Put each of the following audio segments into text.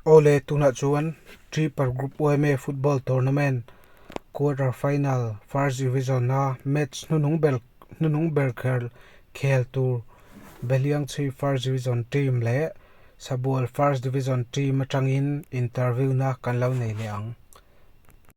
Awle, tunah chuan Tripar Group OMA Football Tournament Quarter Final First Division a match hnunung ber hnunung ber kher khel tur Beliangchi First Division Team leh Sabual First Division Team atangin interview-na kan lo nei leh ang.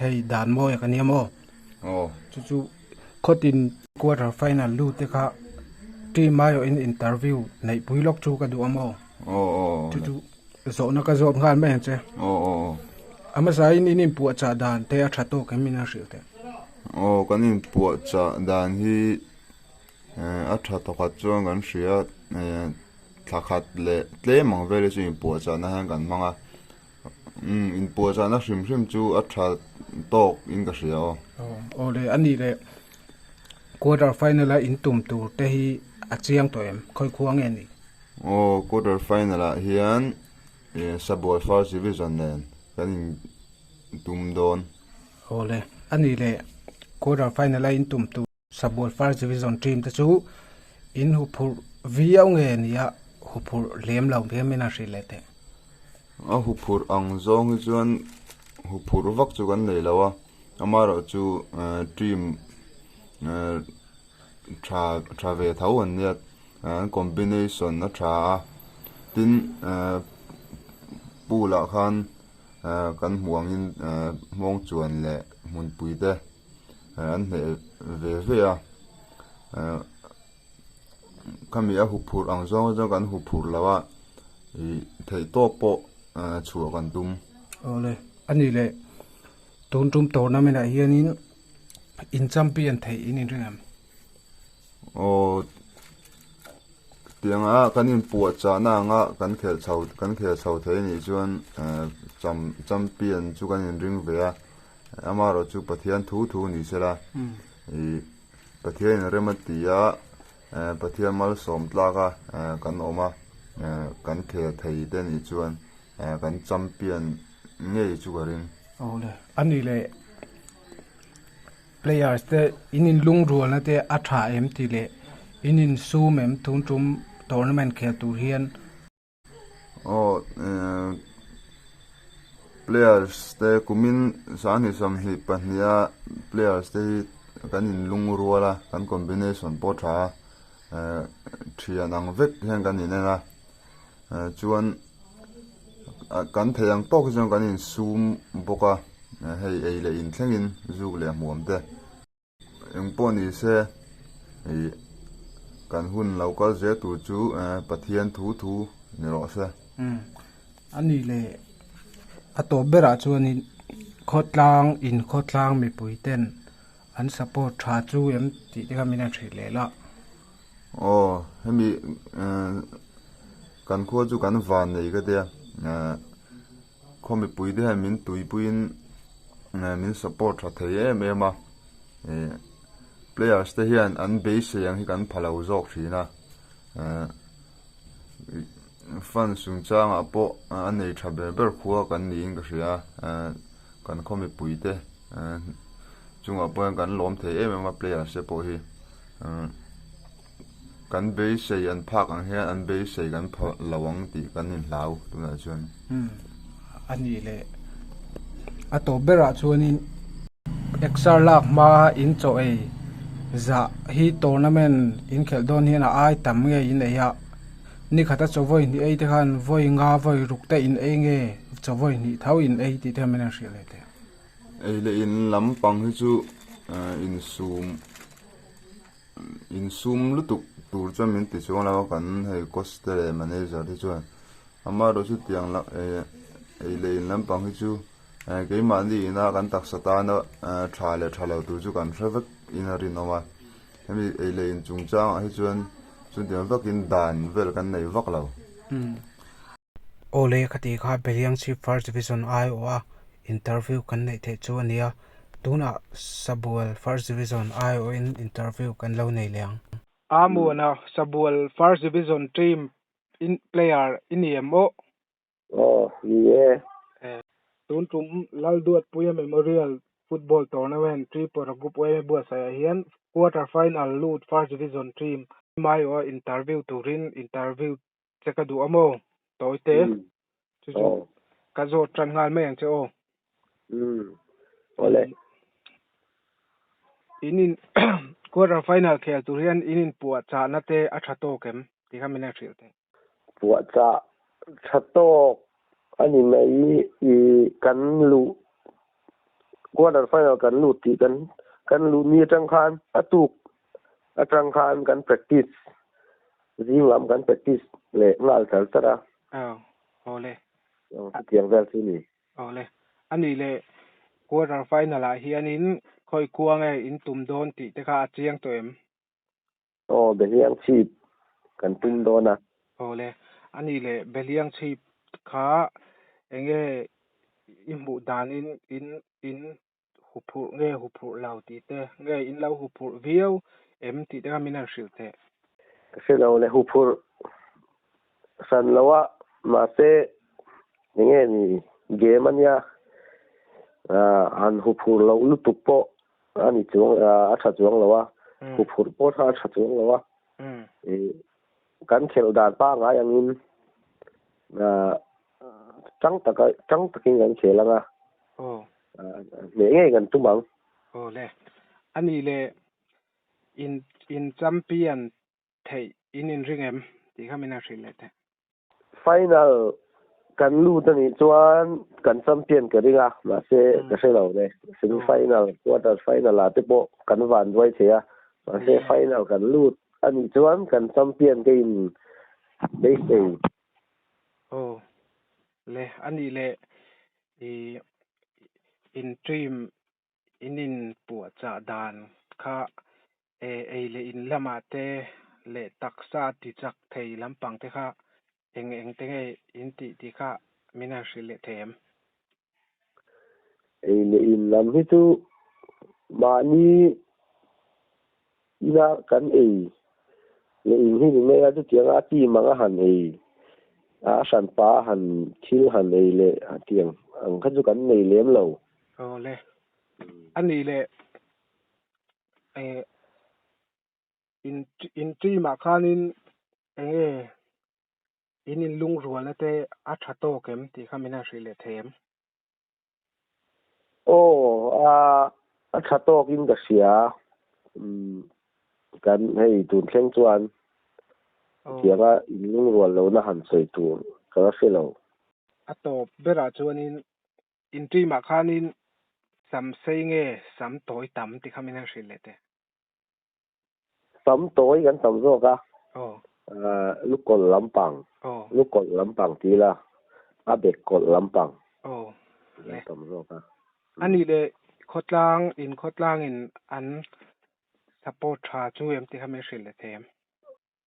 Hei dan maw e ka nia maw? Aw. Chu chu khawt in. Quarter final lu te kha Team Myo in interview neih pui lawk chu ka duh a maw? Aw aw. Chu chu zawhna ka zawt nghal mai ang che. Aw aw aw. A hmasa in in inpuah chah dan te a tha tawk em in a hrilh theih? Aw kan inpuah chah dan hi eh a tha tawkhat chuan kan hria eh thlakhat leh tlem ang vele chu inpuah chahna hian kan hmang a. Inpuahchahna hrim hrim chu a tha tawk in ka hria aw. Aw le, a nih leh. Quarter final a in tum tur te hi a chiang tawh em? Khawikhuah nge ni? Aw, quarter final ah hian Sabuai First Division nen kan in tum dawn. Aw le, a nih leh. Quarter final a in tum tur. Sabual first division team te chu in hu phurh viau nge ni a hu phurh hlem lo viau nge a hrih leh teh. A hu phurh ang zawng hi chuan hu phurh vak chu kan nei lo a ama rawh chu team tha tha ve tho an nia an combination a tha a tin pool ah khan kan hmuh angin hmawngchuan leh hmunpui te. an hneh ve ve a khami a huphurh ang zawng a zawng kan huphurh lo a ih theih tawk pawh chhuah kan tum awle a ni leh tun tum tournament ah hian in in champion theih in inrinawm. Aw tianga kan inpuah chahna anga kan khelh chho kan khel chho thei a nih chuan eh, cham champion chu kan inring ve a eh, amarawh chu pathian thu thu ni se la hmm. i pathian in rem a ti a eh, pathian mal sawm tlak a eh, kan awm a eh, kan khel thei te nih chuan eh, kan champion ngei chu ka ring. Aw le ani le Players te in inlungrualna te a tha em tih leh in insum em tun tum tournament khel tur hian Aw players te kumin sahni sawmhnih pahniha players te hi kan inlungrual a kan combination pawh tha a thian ang vek hian kan inen a. chuan kan theih ang tawk hi chuan kan in sum bawk a hei ei leh in thlengin zuk leh hmuam te eng pawh ni se ih kan hun lo kal zir tur chu Pathian thu thu ni rawh se. A ni le a tawp ber ah chuan in khawtlang in khawtlang mipui ten an support tha chu em tih te kha min han hreh leh la. Aw, hemi kan khua chu kan van nei ka tia, khaw mipui te hian min tuipuiin min support tha thei em em a, players te hian an beisei ang hi kan phalo zawk thin a. Fan sungchangah pawh a nei tha ber ber khua kan niin ka hria. Kan khaw mipui te chungah pawh hian kan lawm thei em em a players te pawh hi. Kan beisei an phak ang hian an beisei kan phawrh lo ang tih kan inhlau tunah chuan. A ni le. A tawp berah chuanin exer lak hmaa in chaw ei zah hi tournament in khelh dawn hian a ai tam ngeiin ei a. Ni khat a chawvawi hnih ei te khan vawi nga vawi ruk te in ei nge chawvawi hnih tho in ei tih te khan min han hriat leh thei. Ei leh in lam pang hi chu insum insum lutuk tur chuan min ti chuang lo a, kan hei cost te leh manager te chuan amaherawhchu chutiang la ei leh in lampang hi chu keimahni ina kan taksa tana tha leh tha lo tur chu kan hre vek in a rinawm a. Hemi eileih in chungchangah hi chuan chutiang vakin dan vel kan nei vak lo. Awle ka tih kha Beliang Chhip First Division ai awh a interview kan neih theih chu a nia, tunah Sabual First Division ai awh in interview kan lo nei leh ang. Aa muana Sabual First Division team in player i ni em awh? Aw, ni e. Eh. Tun tum Lalduatpuia Memorial Football Tournament Tripura Group Uaina Buatsaihah hian Quarter Final lut First Division Team Maioa Interview turin Interview che ka duh a maw Tawite? Chu chu ka zawt tan nghal mai ang che aw. Umm. Awle. In in Quarter Final khel tur hian in inpuah chahna te a tha tawk em? Tih kha min en hrilh thei. Puahchah tha tawk a ni mai i, kan luh quarter final kan lut tih kan kan luh ni atang khan a tuk atang khan kan practice zing lam kan practice leh nghal chal char a. Aw aw le. Aw chutiang vel chu ni. Aw le. A nih leh quarter final ah hianin khawi kuang e in tum dawn tih te kha a chiang tawh em? Aw, Behliang chhip kan tum dawn a. Aw le, a ni le, Behliang chhip kha eng nge i hmuh danin in in hu phurh nge hu phurh lo tih te, nge in lo hu phurh viau em tih te kha min han hrilh teh. Ka hre lo le, hu phurh hran lo a, mahse eng nge ni, game ania, han hu phurh loh lutuk pawh a ni chuang a tha chuang lo a hu phurh pawh a tha chuang lo a kan khelh dan pangai angin chang taka chang takin kan khel anga nge nge kan tum ang aw le ani le in in champion theih in inring em tih kha min han hrilh leh thei. Final kan lut a nih chuan kan champion ka ring a, mahse ka hre lo le, semi final, quarter final ah te pawh kan van buai thei a, mahse final kan lut a nih chuan kan champion ka in base thei. Aw le, a nih leh, i in trim in inpuahchah dan kha ei leh in lamah te leh taksa tichak thei lampang te kha eng eng te nge in tih tih kha min han hrilh leh thei em? Ei leh in lam hi chu mahni Ina kan ei leh in hi ni mai a, chutianga a team anga han ei a, a hran pa a han thil han ei leh a ti ang, ang kha chu kan nei lem lo. Aw le, a nih leh eh, in in team ah khanin eng nge in inlungrualna te a tha tawk em tih kha min han hrih leh thei em? Oh, ah, a tha tawkin ka hria. Um, kan hei tun thleng chuan chianga inlung rual lo na han sawi tur ka la hre lo. A tawp berah chuanin intui mah khanin sam sei nge sam tawi tam ti kha min han hrilh leh teh. sam tawi kan tam zawk a lukawl lampang lukawl lampang ti la a bekkawl lampang kan tam zawk a a nih leh khawtlang in khawtlang in an support tha chu em ti kha mai hrilh leh tha em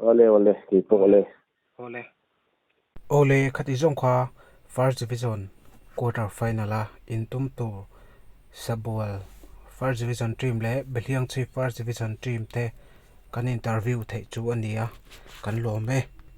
Awle awle keipawh le. Awle. Awle kha tih zawng kha First Division Quarter Final a intum tur Sabual First Division Team leh Behliang Chhip First Division Team te kan interview theih chu a ni a, kan lawm e.